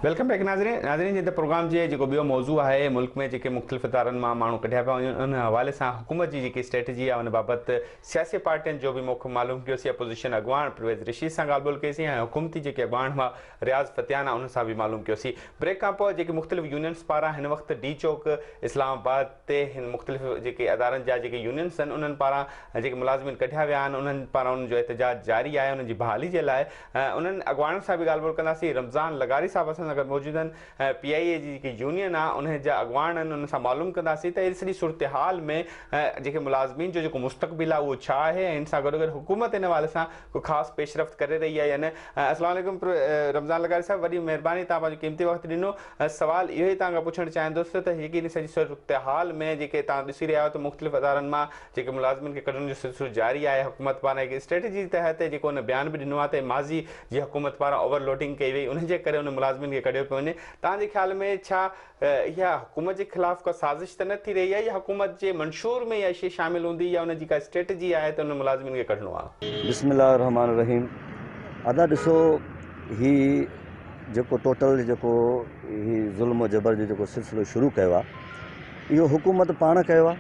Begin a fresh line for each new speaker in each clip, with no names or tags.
Welcome back ناظرين ناظرين جي ته پروگرام جي جيڪو ٻيو موضوع آهي ملڪ ۾ جيڪي مختلف ادارن مان ماڻهو ڪڍيا پيا وڃن ان حوالي سان حڪومت جي جيڪي اسٽريٽجي آهي ان بابت سياسي پارٽين جو به موقف معلوم ڪيوسي اپوزيشن اڳواڻ پرويز رشيد سان ڳالهه ٻولهه ڪيسي ۽ حڪومتي جيڪي اڳواڻ هئا رياض فتيان انهن سان به معلوم ڪيوسي بريڪ کان پوء جيڪي مختلف يونينز پاران هن وقت ڊي چوڪ اسلام آباد تي هن مختلف جيڪي ادارن جا جيڪي يونينس آهن انهن پاران جيڪي ملازمين ڪڍيا ويا آهن انهن پاران انهن جو احتجاج جاري آهي انهن جي بحالي جي لاء انهن اڳواڻن سان به ڳالهه ٻولهه ڪنداسين رمضان لغاري صاحب اسان سان گڏ موجود آهن پي آء اي جي جيڪي يونين آهي انهن جا اڳواڻ آهن انهن سان معلوم ڪنداسين ته اهڙي سڄي صورتحال ۾ جيڪي ملازمين جو جيڪو مستقبل آهي اهو ڇا آهي ۽ ان سان گڏوگڏ حڪومت ان حوالي سان ڪو خاص پيشرفت ڪري رهي آهي يا نه السلام عليڪم رمضان لغاري صاحب وڏي مهرباني توهان پنهنجو قيمتي وقت ڏنو سوال اهو ئي توهان کان پڇڻ چاهيندس ته جيڪي هن سڄي صورتحال ۾ جيڪي توهان ڏسي رهيا آهيو ته مختلف ادارن مان جيڪي ملازمن کي ڪڍڻ جو سلسلو جاري آهي حڪومت پاران هڪ اسٽريٽجي جي تحت جيڪو هن بيان به ڏنو آهي ته ماضي جي حڪومت پاران اوور لوڊنگ ڪئي وئي ان جي ڪري ان ملازمن کي ڪڍيو پيو وڃي توهان جي خيال ۾ ڇا اها حڪومت جي خلاف ڪا سازش ته نه ٿي رهي آهي يا حڪومت جي منشور ۾ اها شيء شامل هوندي يا ان جي ڪا اسٽريٽجي آهي ته انهن ملازمن کي ڪڍڻو آهي. بسم الله الرحمٰن
الرحيم ادا ڏسو هي جيڪو ٽوٽل جيڪو هي ظلم و جبر جو جيڪو سلسلو شروع ڪيو آ اهو حڪومت پاڻ ڪيو آ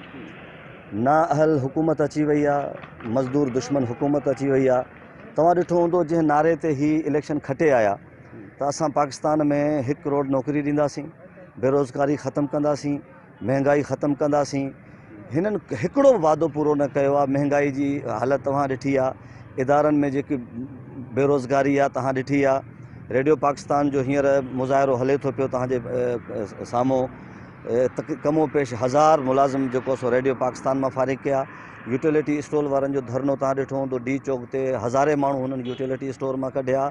نا اهل حڪومت اچي وئي آ مزدور دشمن حڪومت اچي وئي آ توهان ڏٺو هوندو جنهن نعري تي هي اليڪشن کٽي آيا ته اسان پاڪستان ۾ هڪ ڪروڙ نوڪري ڏينداسين بيروزگاري ختم ڪنداسين مهنگائي ختم ڪنداسين هنن هڪڙو به وعدو پورو نه ڪيو آهي مهنگائي جي حالت توهان ڏٺي آهي ادارن ۾ جيڪي بيروزگاري آهي توهان ڏٺي آهي ريڊيو پاڪستان جو هينئر مظاهرو هلي ٿو پيو توهان جي سامهون ڪم و پيش هزار ملازم جيڪو سو ريڊيو پاڪستان مان فارغ ڪيا يوٽيلٽي اسٽول وارن جو ڌرنو توهان ڏٺو هوندو ڊي چوڪ تي هزارين ماڻهو هنن يوٽيلٽي اسٽور مان ڪڍيا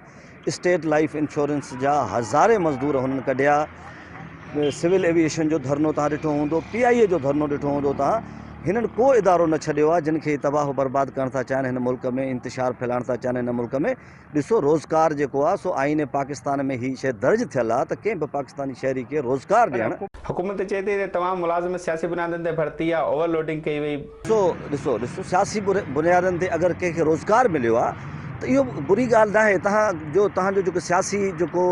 اسٽيٽ لائيف انشورنس جا هزارين مزدور هنن ڪڍيا، سول ايويئيشن جو ڌرنو توهان ڏٺو هوندو، پي آء اي جو ڌرنو ڏٺو هوندو توهان، هنن ڪو ادارو نه ڇڏيو آهي جن کي هي تباهه و برباد ڪرڻ ٿا چاهن هن ملڪ ۾ انتشار ڦهلائڻ ٿا چاهن هن ملڪ ۾ ڏسو روزگار جيڪو آهي سو آئين پاڪستان ۾ هي شيء درج ٿيل آهي ته ڪنهن به پاڪستاني شهري کي روزگار ڏيڻ. حڪومت چئي ٿي ته
تمام ملازم سياسي بنيادن تي ڀرتي يا اوور لوڊنگ ڪئي وئي. سو ڏسو ڏسو
سياسي بنيادن تي اگر ڪنهن کي روزگار مليو آ ته اهو بري ڳالهه ناهي تهان جو تهان جو جيڪو سياسي جيڪو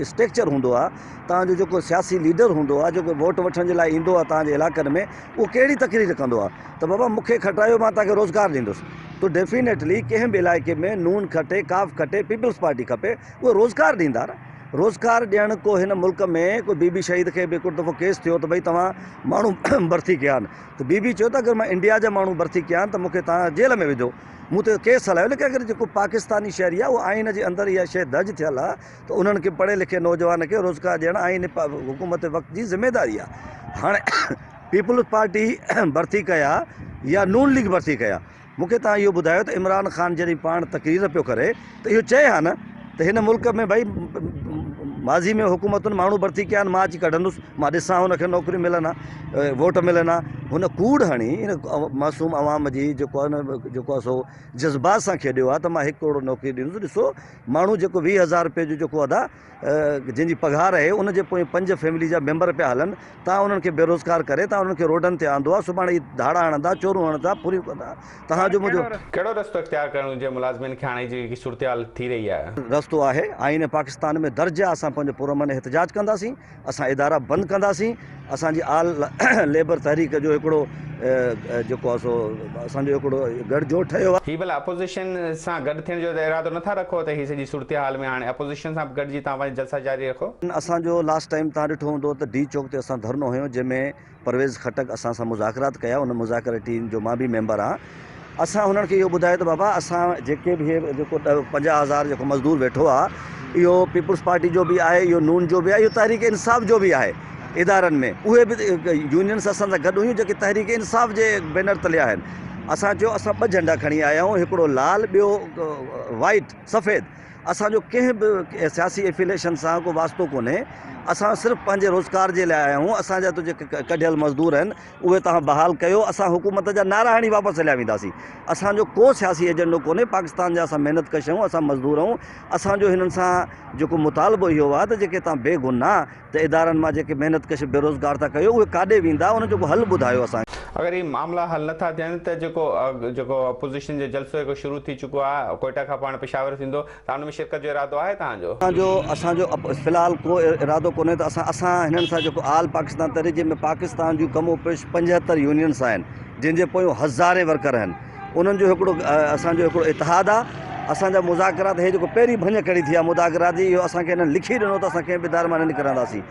اسٽيڪچر هوندو آ تهان جو جيڪو سياسي ليڊر هوندو آ جيڪو ووٽ وٺڻ جي لاء ايندو آ تهان جي علائقن ۾ اهو ڪهڙي تقرير ڪندو آ ته بابا مون کي کٽرايو مان تهان کي روزگار ڏيندس تو ڊيفينيٽلي ڪنهن به علائقي ۾ نون کٽي ڪاف کٽي پيپلز پارٽي کپي اهي روزگار ڏيندا نه روزگار ڏيڻ ڪو هن ملڪ ۾ ڪو بي بي شهيد کي به ڪوٽ دفعو ڪيس ٿيو ته ڀئي توهان ماڻهو برٿي ڪيا آهن ته بي بي چيو ته اگر مان انڊيا جا ماڻهو برٿي ڪيا آهن ته مون کي توهان جيل ۾ وجهو مون تي ڪيس هلايو ليڪن اگر جيڪو پاڪستاني شهري آهي اهو آئين جي اندر اها شيء درج ٿيل آهي ته انهن کي پڙهي لکي نوجوان کي روزگار ڏيڻ آئين حڪومت وقت جي ذميداري آهي هاڻي پيپلز پارٽي برٿي ڪيا يا نون ليگ برٿي ڪيا مون کي توهان اهو ٻڌايو ته عمران خان جڏهن پاڻ تقرير پيو ڪري ته اهو چئي ها نه ته هن ملڪ ۾ ڀئي ماضي ۾ حڪومتن ماڻهو ڀرتي ڪيا آهن مان اچي ڪڍندس مان ڏسان هن کي نوڪريون ملن ها ووٽ ملن ها هن ڪوڙ هڻي هن معصوم عوام جي جيڪو آهي نه جيڪو آهي سو جذبات سان کيڏيو آهي ته مان هڪ ڪروڙ نوڪري ڏيندس ڏسو ماڻهو جيڪو ويهه هزار روپئي جو جيڪو ادا جنهن جي پگهار اهي ان جي پوئين پنج فيملي جا ميمبر پيا هلن توهان انهن کي بيروزگار ڪري توهان انهن کي روڊن تي آندو آهي سڀاڻي هي ڌاڙا هڻندا چورون هڻندا ڦريون ڪندا توهان جو منهنجو ڪهڙو رستو اختيار
ڪرڻ گهرجي ملازمين کي هاڻي جي جيڪي صورتحال ٿي رهي آهي. رستو آهي آئين
پاڪستان ۾ درج آهي اسان پنهنجو پرامن احتجاج ڪنداسين. اسان ادارا بند ڪنداسين، اسان جي آل ليبر تحريڪ جو هڪڙو جيڪو آهي سو اسان جو هڪڙو گڙھ جوڙ ٺهيو آهي. هي ڀلا اپوزيشن
سان گڏ ٿيڻ جو ارادو نٿا رکو ته هي سڄي صورتحال ۾ هاڻي اپوزيشن سان به گڏجي توهان پنهنجا جلسا جاري رکو. اسان جو لاسٽ ٽائيم
توهان ڏٺو هوندو ته ڊي چوڪ تي اسان ڌرنو هنيو جنهن ۾ پرويز خٽڪ اسان سان مذاڪرات ڪيا، ان مذاڪراتي ٽيم جو مان به ميمبر آهيان، اسان هنن کي اهو ٻڌايو ته بابا اسان جيڪي به هي جيڪو پنجاهه هزار جيڪو مزدور ويٺو آهي اهو پيپلز پارٽي جو به آهي، اهو نون جو به آهي، اهو تحريڪ انصاف جو به آهي، ادارن ۾ اهي به يونينز اسان سان گڏ هيون جيڪي تحريڪ انصاف جي بينر تلي آهن، اسان چيو اسان ٻه جهنڊا کڻي آيا آهيون هڪڙو لال ٻيو وائيٽ، سفيد. اسان جو ڪنهن به سياسي افيليشن سان ڪو واسطو ڪونهي اسان صرف پنهنجي روزگار جي لاء آيا آهيون اسان جا جيڪي ڪڍيل مزدور آهن اهي توهان بحال ڪيو اسان حڪومت جا نعرا هڻي واپس هليا وينداسين اسان جو ڪو سياسي ايجنڊو ڪونهي پاڪستان جا اسان محنت ڪش آهيون اسان مزدور آهيون اسان جو هنن سان جيڪو مطالبو اهو آهي ته جيڪي توهان بيگناهه ته ادارن مان جيڪي محنت ڪش بيروزگار ٿا ڪيو اهي ڪاڏي ويندا ان جو ڪو حل ٻڌايو اسان کي. اگر هي معاملا
حل نه ٿا ٿين ته جيڪو جيڪو اپوزيشن جو جلسو جيڪو شروع ٿي چڪو آهي ڪوئيٽا کان پاڻ پشاور ٿيندو ته ان ۾ شرڪت جو ارادو آهي توهان جو؟ اسان جو اسان جو في
الحال ڪو ارادو ڪونهي ته اسان اسان هنن سان جيڪو آل پاڪستان تحريڪ جنهن ۾ پاڪستان جون ڪم و پيش پنجهتر يونينس آهن جنهن جي پويون هزارين ورڪر آهن. انهن جو هڪڙو اسان جو هڪڙو اتحاد آ اسان جا مذاڪرات هي جيڪو پهرين ڀڃ ڪڙي ٿي آ مذاڪرات جي اهو اسان کي انهن لکي ڏنو ته اسان ڪنهن به در مان نه نڪرنداسين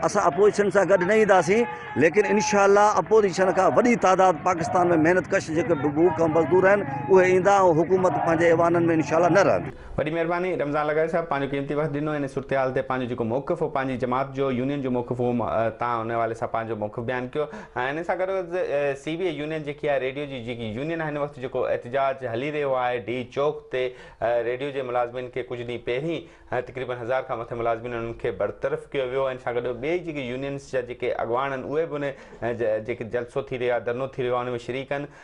اسان اپوزيشن سان گڏ نه اينداسين ليڪن انشاء الله اپوزيشن کان وڏي تعداد پاڪستان ۾ محنت ڪش جيڪي بوکا مزدور آهن اهي ايندا ۽ حڪومت پنهنجي ايوانن ۾ انشاء الله نه رهندي وڏي مهرباني رمضان
لغاري صاحب پنهنجو قيمتي وقت ڏنو ان صورتحال تي پنهنجو جيڪو موقف هو پنهنجي جماعت جو يونين جو موقف هو تان ان حوالي سان پنهنجو موقف بيان ڪيو ۽ ان سان گڏو گڏ سي بي اي يونين جيڪي آهي ريڊيو جي جيڪي يونين هن وقت جيڪو احتجاج هلي رهيو آهي ڊي چوڪ تي ريڊيو جي ملازمين کي ڪجهه ڏينهن پهرين تقريبن هزار کان مٿي ملازمين انهن کي برطرف ڪيو ويو ان سان گڏو ٻئي جيڪي يونينس جا جيڪي اڳواڻ آهن اهي به ان جيڪي جلسو ٿي رهيو آهي ڌرنو ٿي رهيو آهي ان ۾ شريڪ آهن